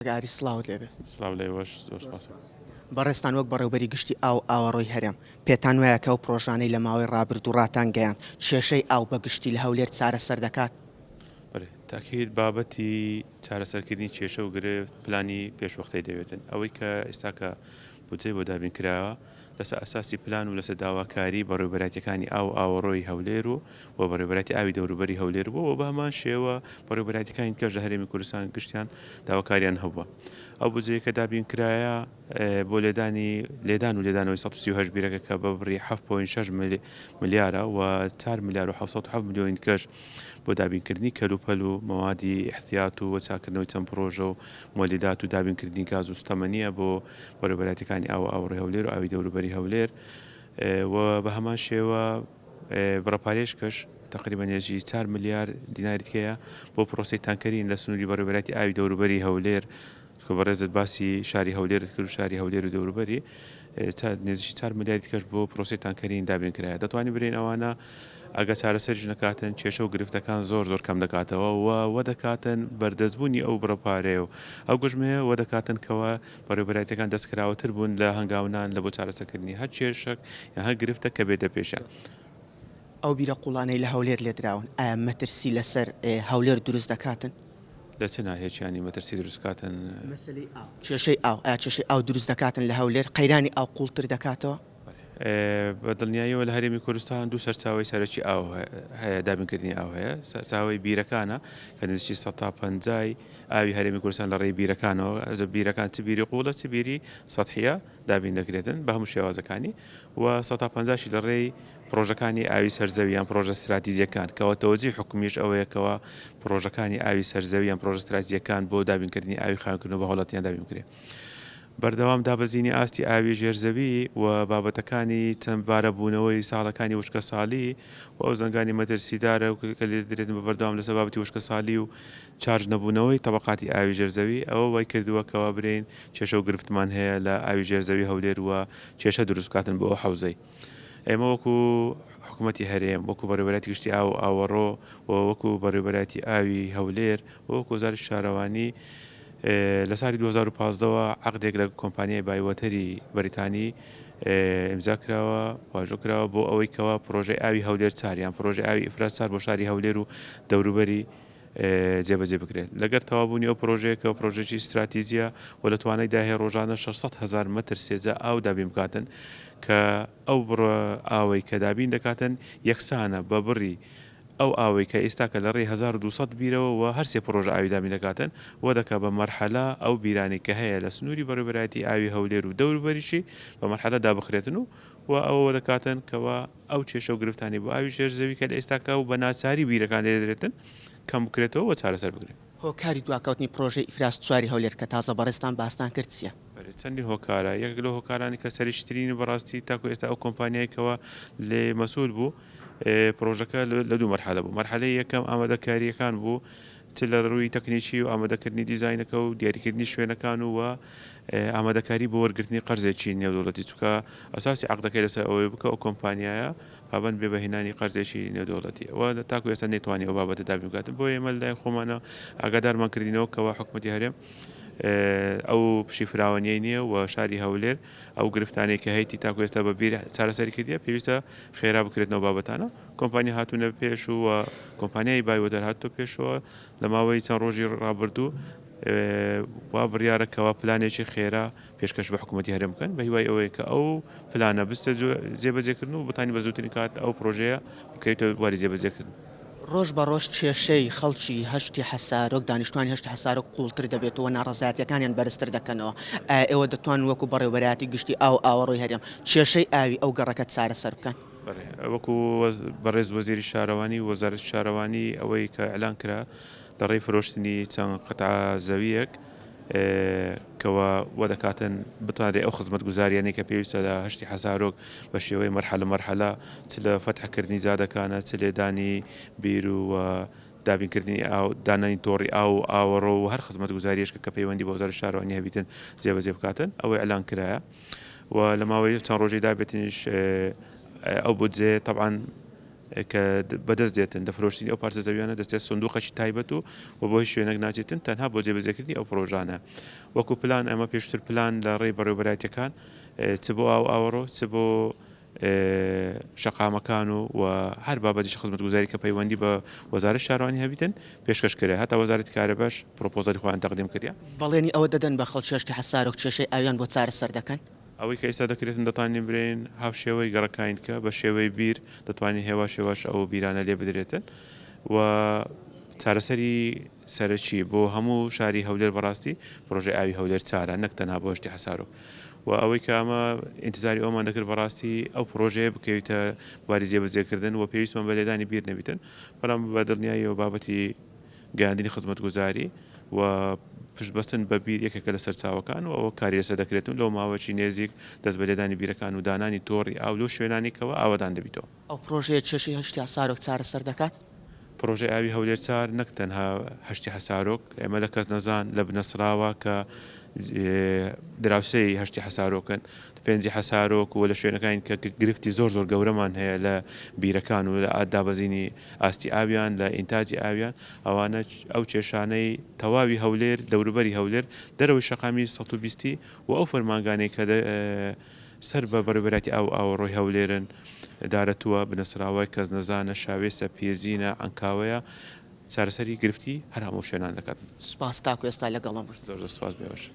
کاک ئاری سڵاوت لێ بێت. سڵاو لێوەش زۆر سپاس. بەڕێزتان وەک بەڕێوبەری گشتی ئاو و ئاوەڕۆی هەرێم، پێتان وایە کە ئەو پڕۆژانەی لە ماوەی ڕابردوو ڕاتان گەیاند، کێشەی ئاو بە گشتی لە هەولێر چارەسەر دەکات؟ بەلی تاکید بابەتی چارەسەرکردنی کێشە و گرفت پلانی پێشوەختەی دەوێتن ئەوەی کە ئێستاکە بودجەی بۆ دابین کراوە لەسەر ئەساسی پلان و لەسەر داواکاری بەڕێوەبەرایەتیەکانی ئاو و ئاوەڕۆی هەولێر و و بەڕێوەبەرایەتی ئاوی دەوروبەری هەولێر بووە و بەهەمان شێوە بەڕێوەبەرایەتیەکانی دیکەش لە هەرێمی کوردستان گشتیان داواکاریان هەبووە ئەو بودجەیە کە دابین کرایە بۆ لێدانی لێدان و لێدانەوەی 138 بیرەکە کە بە بڕی 7.6 ملیارە و 4 ملیار و 707 ملیۆنی دیکەش بۆ دابینکردنی کەلوپەل و مەوادی ئیحتیات و چاککردنەوەی چەند پڕۆژە و مۆلیدات و دابینکردنی گاز و سوتەمەنییە بۆ بەرێوەبەرایەتیەکانی ئاو و ئاوەڕۆی هەولێر و ئاوی دەوروبەری هەولێر و بە هەمان شێوە بڕە پارێشکەش تەقریبا نێجی چار ملیار دیناری تکەیە بۆ پڕۆسەی تانکەرین لە سنووری بەڕێوەبەرایەتی ئاوی دەوروبەری هەولێر تکو بەڕێزت باسی شاری هەولێرت کرد و شاری هەولێر و دەوروبەری چا نێزیکی چار ملیاری تکەش بۆ پرۆسی تانکەرین دابین کرایە دەتوانی برین ئەوانە ئەگە چارەسەریش نەکاتن کێشە و گرفتەکان زۆر زۆر کەم دەکاتەوە و وە دەکاتن بەردەستبوونی ئەو بڕە پارەیە و ئەو گوژمەیە وە دەکاتن کەوە بەڕێوبەرایەتەکان دەستکراوەتر بوون لە هەنگاونان لە بۆ چارەسەکردنی هەر کێشەک یان هەر گرفتە کە بێتە پێشیان. ئەو بیرە قوڵانەی لە هەولێر لێدراون ئایا مەترسی لەسەر هەولێر دروست دەکاتن؟ لە چ ناهێکیانی مەترسی دروست کاتن؟ مەسەلەی ئاو، کێشەی ئاو، ئایا کێشەی ئاو دروست دەکاتن لە هەولێر؟ قەیرانی ئاو قووڵتر دەکاتەوە؟ بە دڵنیاییەوە لە هەرێمی کوردستان دوو سەرچاوەی سەرەکی ئاو هەیە، دابینکردنی ئاو هەیە، سەرچاوەی بیرەکانە کە نزیکەی سەد تا پەنجای ئاوی هەرێمی کوردستان لە ڕێی بیرەکانەوە، بیرەکان چ بیری قووڵە چ بیری سەتحییە دابین دەکرێتن بە هەموو شێوازەکانی و سەد تا پەنجاشی لە ڕێی پڕۆژەکانی ئاوی سەر زەوی یان پڕۆژە ستراتیجییەکان، کەوا تەوەجوی حکومیش ئەوەیە کەوا پڕۆژەکانی ئاوی سەر زەوی یان پڕۆژە ستراتیجییەکان بۆ دابینکردنی ئاوی خاوێنکردنەوە بە هاوڵاتیان دابین بکرێ. بەردەوام دابەزینی ئاستی ئاوی ژێر زەوی و بابەتەکانی چەندبارەبوونەوەی ساڵەکانی وشکەساڵی و ئەو زەنگانی مەترسیدارە کە لێدەدرێتن بە بەردەوام لەسەر بابەتی وشکەساڵی و چارج نەبوونەوەی تەبەقاتی ئاوی ژێر زەوی ئەوە وای کردووە کەوا برێین کێشە و گرفتمان هەیە لە ئاوی ژێر زەوی هەولێر و کێشە دروست بکاتن بۆ ئەو حەوزەی ئێمە وەکو حکومەتی هەرێم، وەکو بەڕێوەبەرایەتی گشتی ئاو و ئاوەڕۆ و وەکو بەڕێوەبەرایەتی ئاوی هەولێر و وەکو وەزارەتی شارەوانی لە ساڵی دوو هەزار و پازدە وە عەقدێک لە کۆمپانیای بایوەتەری بەریتانی ئیمزا کراوە واژۆ کراوە بۆ ئەوەی کەوا پڕۆژەی ئاوی هەولێر چار یان پڕۆژەی ئاوی ئیفراز چار بۆ شاری هەولێر و دەوروبەری جێبەجێ بکرێت لەگەر تەوابوونی ئەو پرۆژەیە کە پرۆژەیەکی ستراتیجیە و لە توانای دا هەیە رۆژانە شەش سەد هەزار مەتر سێجا ئاو دابین بکاتن کە ئەو بڕە ئاوەی کە دابین دەکاتن یەکسانە بە بڕی ئەو ئاوەی کە ئیستاکە لە رێی هەزار و دوو سەد بیرەوە وە هەر سێ پرۆژە ئاوی دابین دەکاتن وە دەکا بە مەرحەلە ئەو بیرانەی کە هەیە لە سنووری بەڕێوەبەرایەتی ئاوی هەولێر و دەوروبەریشی بە مەرحەلە دابخرێتن و وە ئەوە وە دەکاتن کە وە ئەو کێشە و گرفتانەی بۆ ئاوی ژێر زەوی کە لە ئێستاکە و بە ناچاری بیرەکان لێ دەدرێتن کەم بکرێتەوە و چارەسەر بکرێن. هۆکاری دواکەوتنی پڕۆژەی ئیفراست چواری هەولێر کە تازە بەڕێزتان باستان کرد چیە؟ بەلی چەندین هۆکارە یەکێک لەو هۆکارانەی کە سەرریشترینی بەڕاستی تاکو ئێستا ئەو کۆمپانیای کەوا لێ مەسول بوو پڕۆژەکە لە دوو مەرحەلە بوو مەرحەلەی یەکەم ئامادەکاریەکان بوو چ لە رووی تەکنیکی و ئامادەکردنی دیزاینەکە و دیاریکردنی شوێنەکان و وە ئامادەکاری بۆ وەرگرتنی قەرزێکی نێودەوڵەتی چونکە ئەساسی عەقدەکەی لەسەر ئەوەی بوو کە ئەو کۆمپانیایە پابەند بێ بە هێنانی قەرزێکی نێودەوڵەتی ئەوە تاکو ئێستا نەیتوانی ئەو بابەتە دابین بکات بۆیە ئێمە لەلایەن خۆمانەوە ئاگادارمان کردینەوە کەوا حکومەتی هەرێم ئەو پشی فراوانیەی نییە و شاری هەولێر ئەو گرفتانەی کە هەیەی تاکو ئێستا بە بیر چارەسەری کردیە پێویستە خێرا بکرێتنەوە بابەتانە کۆمپانیا هاتوونە پێش و کۆمپانیای بایوەدەر هاتووە پێشەوە لە ماوەی چەند ڕۆژی ڕابردوو وا بڕیارە کەوا پلانێکی خێرا پێشکەش بە حکوومەتی هەرێم بکەن بە هیوای ئەوەیە کە ئەو پلانە بستە جێبەجێکردن و بتانی بە زووترین کات ئەو پرۆژەیە بکەیتە بواری جێبەجێکردن. ڕۆژ بە ڕۆژ کێشەی خەڵکی هەشتی حەسارۆک، دانیشتووانی هەشتی حەسارۆک قووڵتر دەبێت و ناڕەزایەتییەکانیان بەرزتر دەکەنەوە، ئایا ئێوە دەتوانن وەکوو بەڕێوەبەرایەتی گشتی ئاو و ئاوەڕۆی هەرێم کێشەی ئاوی ئەو گەڕەکە چارەسەر بکەن؟ بەڵێ وەکو بەڕێز وەزیری شارەوانی و وەزارەتی شارەوانی ئەوەی کە ئیعلان کرا لە ڕێی فرۆشتنی چەند قەتعە زەوییەک کەوا وەدەکاتن بتوانرێ ئەو خزمەتگوزاریانەی کە پێویستە لە هەشتی حەسارۆک بە شێوەی مەرحەلە مەرحەلە چ لە فەتحکردنی جادەکانە چ لێدانی بیر و دابینکردنی ئاو دانانی تۆڕی ئاو و ئاوەڕۆ و هەر خزمەتگوزاریەشکە کە پەیوەندی بە وەزارەتی شارەوانی هەبیتن جێبەجێ بکاتن ئەوەی ئیعلان کرایە و لە ماوەی چەند ڕۆژەی دابەتنیش ئەو بودجەیە تەبعەن کە بەدەست دێتن دە فرۆشتنی ئەو پارچە زەویانە دەستێت سندوقەشی تایبەت و و بۆ هیچ شوێنێک ناچێتن تەنها بۆ جێبەجێکردنی ئەو پرۆژانە وەکو پلان ئەمە پێشتر پلان لە ڕێی بەڕێوبەرایەتەکان چ بۆ ئاو ئاوەڕۆ چ بۆ شەقامەکان و و هەر بابەتێکی خزمەتگوزاری کە پەیوەندی بە وەزارەت شارەوانی هەبیتن پێشکەش کرێ هەتا وەزارەتی کارەباش پرۆپۆزەلی خۆیان تەقدیم کردیە. بەڵێنی ئەوە دەدەن بە خەڵکی ئەشکە حەسارۆک کێشەی ئاویان بۆ چارەسەر دەکەن. ئەوەی کە ئیستا دەکرێتن دەتانین برێین هاوشێوەی گەڕەکاین کە بە شێوەی بیر دەتوانین هێواش هێواش ئەو بیرانە لێ بدرێتن و چارەسەری. سەرەکیە بۆ هەموو شاری هەولێر بەڕاستی پڕۆژەی ئاوی هەولێر چارە نەک تەنها بۆ ئەشتی حەسارۆک و ئەوەی کە ئەمە ئینتزاری ئەومان دەکرد بەڕاستی ئەو پڕۆژەیە بکەویتە باری جێبەجێکردن و پێویستمان بە لێدانی بیر نەبیتن بەڵام بە دڵنیاییەوە بابەتی گەیاندنی خزمەتگوزاری و پشتبەستن بە بیر یەکێکە لە سەرچاوەکان و ئەوە کاری لەسەر دەکرێت و لەو ماوەیەکی نێزیک دەست بە لێدانی بیرەکان و دانانی تۆڕی ئاو لەو شوێنانەی کەوا ئاوەدان دەبیتەوە. ئەو پڕۆژەیە کێشەی هەشتی حەسارۆک چارەسەر دەکات؟ پڕۆژەی ئاوی هەولێر چار نەک تەنها هەشتی حەسارۆک، ئێمە لە کەسنەزان، لە بنەسڕاوا کە دراوسێی هەشتی حەسارۆکن، لە پێنجی حەسارۆک و لە شوێنەکانین کە گرفتی زۆر زۆر گەورەمان هەیە لە بیرەکان و لە دابەزینی ئاستی ئاویان، لە ئینتاجی ئاویان، ئەوانە ئەو کێشانەی تەواوی هەولێر، دەوروبەری هەولێر، دەرەوەی شەقامی سەد و بیست و ئەو فەرمانگانەی کە سەر بە بەڕێوەبەرایەتی ئاو و ئاوەڕۆی هەولێرن، دارەتووە، بنەسراوە، کەزنەزانە، شاوێسە، پیرزینە، عەنکاوەیە، چارەسەری گرفتی هەر هەموو شوێنان دەکات. سوپاس تاکو ئێستا لەگەڵم بوویت. زۆر زۆر سوپاس بێوەژن.